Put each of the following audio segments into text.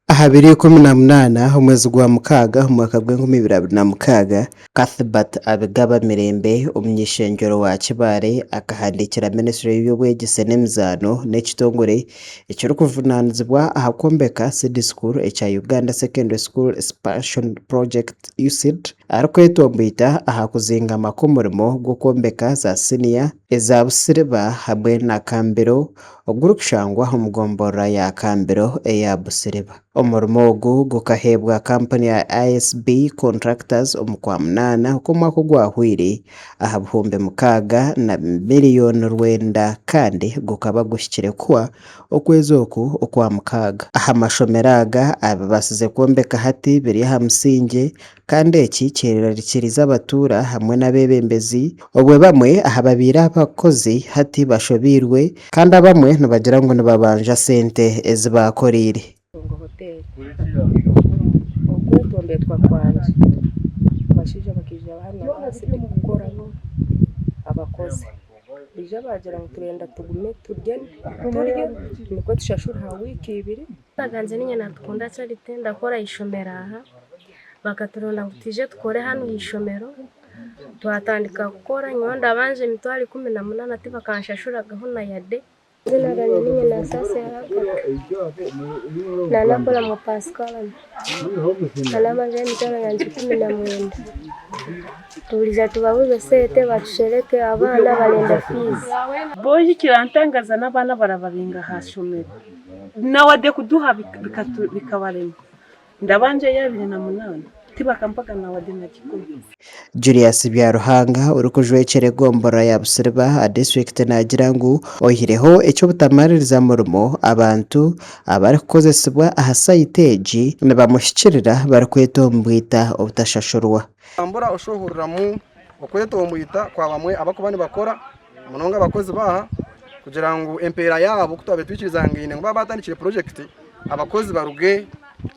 Aha biro ikumi na munaana omwezi gwa mukaaga omu mwaka gw'enkumi ibiri abiri na mukaaga, Cuthbert Abigaba Mirembe, omuny'eishengyero wa Kibaale akahandiikira minisitule y'eby'obwegyese n'emizaano n'ekitongore ekirikuvunaanizibwa aha kwombeka Seed School ekya Uganda Secondary School Expansion Project, USEED, arikwetomboita aha kuzingama kw'omurimo gw'okwombeka za siniya eza busiriba hamwe na kambiro. ogurikushangwa omu gomborora ya Kambiro eya Busiriba. Omurimo ogu gukaheebwa kampuni ya ISB Contractors omu kwa munaana okw'omwaka ogwahweire aha buhumbi mukaaga na miriyoni rwenda kandi gukaba guhikire kuhwa okwezi oku okwa mukaaga. Aha mashomero aga abibaasize kwombeka hati biri aha musingye Kandi eki kirirarikiriza abatuura hamwe n'abeebembezi, obwe bamwe aha babaire abakozi hati bashobeirwe, kandi abamwe nibagira ngu nibabanja sente ezi baakoreire. Ntungo Hotel Okwetombetwa kwangye abashaija bakaija bahamya abaansi tikukoramu abakozi baija baagira ngu turenda tugume turye nikwo tushashurwe ha wiiki ibiri Bagambire niinye Nantukuunda Charity ndakora aha ishomero aha. Bakaturonda ngu twije tukore hanu aha ishomero. Twatandika kukora, nyowe ndabanja emitwaro ikumi na munaana tibakanshashuragaho na yade. Eiziina ryangye niinye Nasaasi Agatha. Nandakora mu Pasikarama. Nandabanjaho emitwaro yangye ikumi na mwenda. Turiija tubabuuze sente batushereke abaana barenda fiizi. Boojo ekirantangaza n'abaana barabaringa aha shomero. na wade kuduha bikabarema ndaba ngyeyo abiri na munana tibakampaga na wade na kikumi. Julius Byaruhanga orikujwekyera egombolola ya Busiriba aha disiturikiti naagira ngu oyihireho eky'obutamaririza murimo, abantu abarikukozesibwa aha sayiti egi nibamuhikirira barikwetombwita obutashashurwa. Otambura oshuhuriramu okwetomwita kwa bamwe abakuba nibakora Munonga abakozi baaha kugira ngu empeera yaabo, ku twabaire twikirizaangaine ngu baaba baatandikire purojekiti, abakozi baruge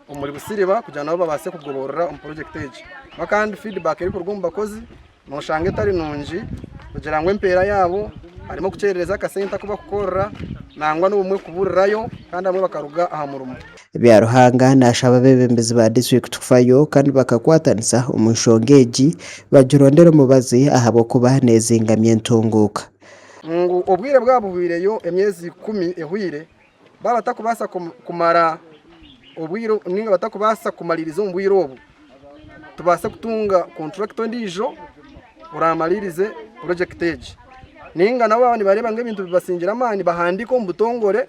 omuri busiriba kugira nabo babaase kugoborora omu purojekiti egi. Kuba kandi fiidibaaka erikuruga omu bakozi nooshanga etari nungi kugira ngu empeera yaabo harimu okukyerereza akasente aku bakukorera nangwa n'obumwe kuburirayo kandi abamwe bakaruga aha murimo. Byaruhanga naashaba abeebembezi ba disiturikiti kufayo kandi bakakwatanisa omu nshonga egi bagirondere omubazi ahabw'okuba neezingamya entunguuka. Ngu obwire bwaba buhweireyo emyezi ikumi ehweire, baaba batakubaasa kumara obwire nainga batakubaasa kumariiriza omu bwire obwo, tubaase kutunga konturakiti endiijo oraamaririze purojekiti egi. Nainga nabo baaba nibareeba ngu ebintu bibasingire amaani bahandiike omu butongore.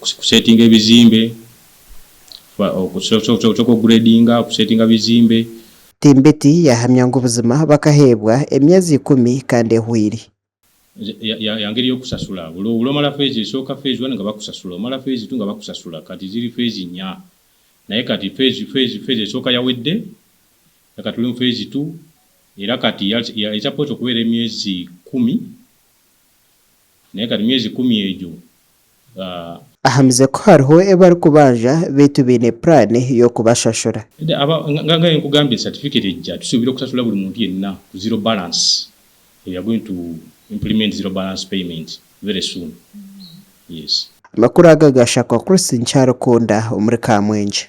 kusetinga ebizimbe, kusetinga ebizimbe. Timbeti yahamya ngu buzima bakaheebwa emyezi ikumi kandi ehweire. Ya ngeri y'okusasula, buri omara feezi esooka, feezi wani nga bakusasula, omara feezi tu nga bakusasula, kati ziri feezi inya, naye kati feezi esooka yawedde, naye kati turi omu feezi tu, era kati ya eija kwotsya kubeera emyezi ikumi. Naye kare myezi ikumi egyo ba. Ahamize ku hariho ebi bari kubanja beitu baine plan y'okubashashura. Eda aba nga nga nkugambire certificate egya tusuubire kusasura buri muntu yenna ku zero balance we are going to implement zero balance payment very soon yes. Amakuru aga ga Shakwa Chris nkyarikunda omuri Kamwenje.